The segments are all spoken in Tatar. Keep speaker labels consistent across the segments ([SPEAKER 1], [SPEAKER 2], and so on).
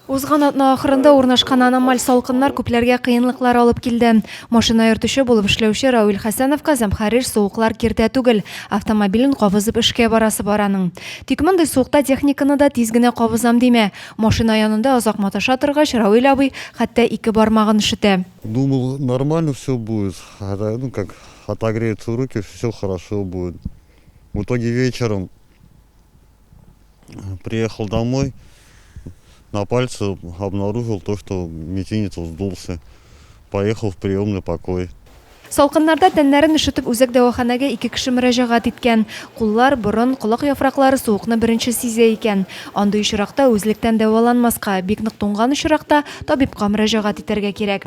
[SPEAKER 1] Узган атна ахырында урнашкан аномаль салкыннар күпләргә кыенлыклар алып килде. Машина йөртүче булып эшләүче Равил Хәсәновка зәмхәрир суыклар киртә түгел, автомобилен кабызып эшкә барасы бар аның. Тик мондый суыкта техниканы да тиз генә кабызам димә. Машина янында озак маташа торгач, Равил абый хәтта ике бармагын өшетә. Думал, нормально
[SPEAKER 2] все будет, это, ну, как отогреются руки, все хорошо будет. В итоге вечером. Приехал домой, на пальце обнаружил то, что мизинец вздулся. Поехал в приемный покой. Салкыннарда
[SPEAKER 1] тәннәрен өшетеп үзәк дәваханәгә ике кеше мөрәҗәгать иткән. Куллар, борын, колак яфраклары суыкны беренче сизә икән. Андый очракта үзлектән дәваланмаска, бик нык туңган очракта табибка мөрәҗәгать итәргә кирәк.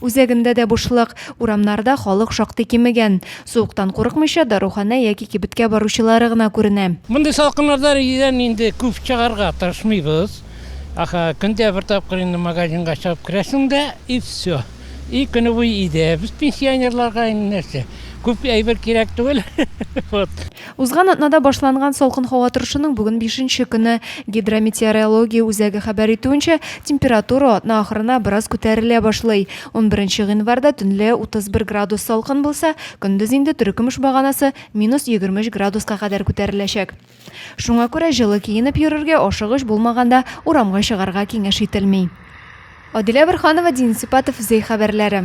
[SPEAKER 1] Үзәгендә дә бушлык, урамнарда халык шактый кимегән. Суыктан курыкмыйча, даруханә яки кибеткә баручылары гына күренә. Мондый салкыннарда
[SPEAKER 3] өйдән инде күп чыгарга тырышмыйбыз. Ахы, көн дә бер тапкыр инде магазинга чыгып керәсең дә, и всё. И көне буе өйдә. Без пенсионерларга инде нәрсә, күп әйбер кирәк түгел. Вот. Узган атнада
[SPEAKER 1] башланган салкын һава торышының бүген бишенче көне. Гидрометеорология үзәге хәбәр итүенчә, температура атна ахырына бераз күтәрелә башлый. Унберенче гыйнварда төнлә 31 градус салкын булса, көндез инде төрекөмеш баганасы минус 23 градуска кадәр күтәреләчәк. Шуңа күрә җылы киенеп йөрергә, ашыгыч булмаганда урамга чыгарга киңәш ителми. Адилә Борһанова, Дин Сипатов, Зәй хәбәрләре.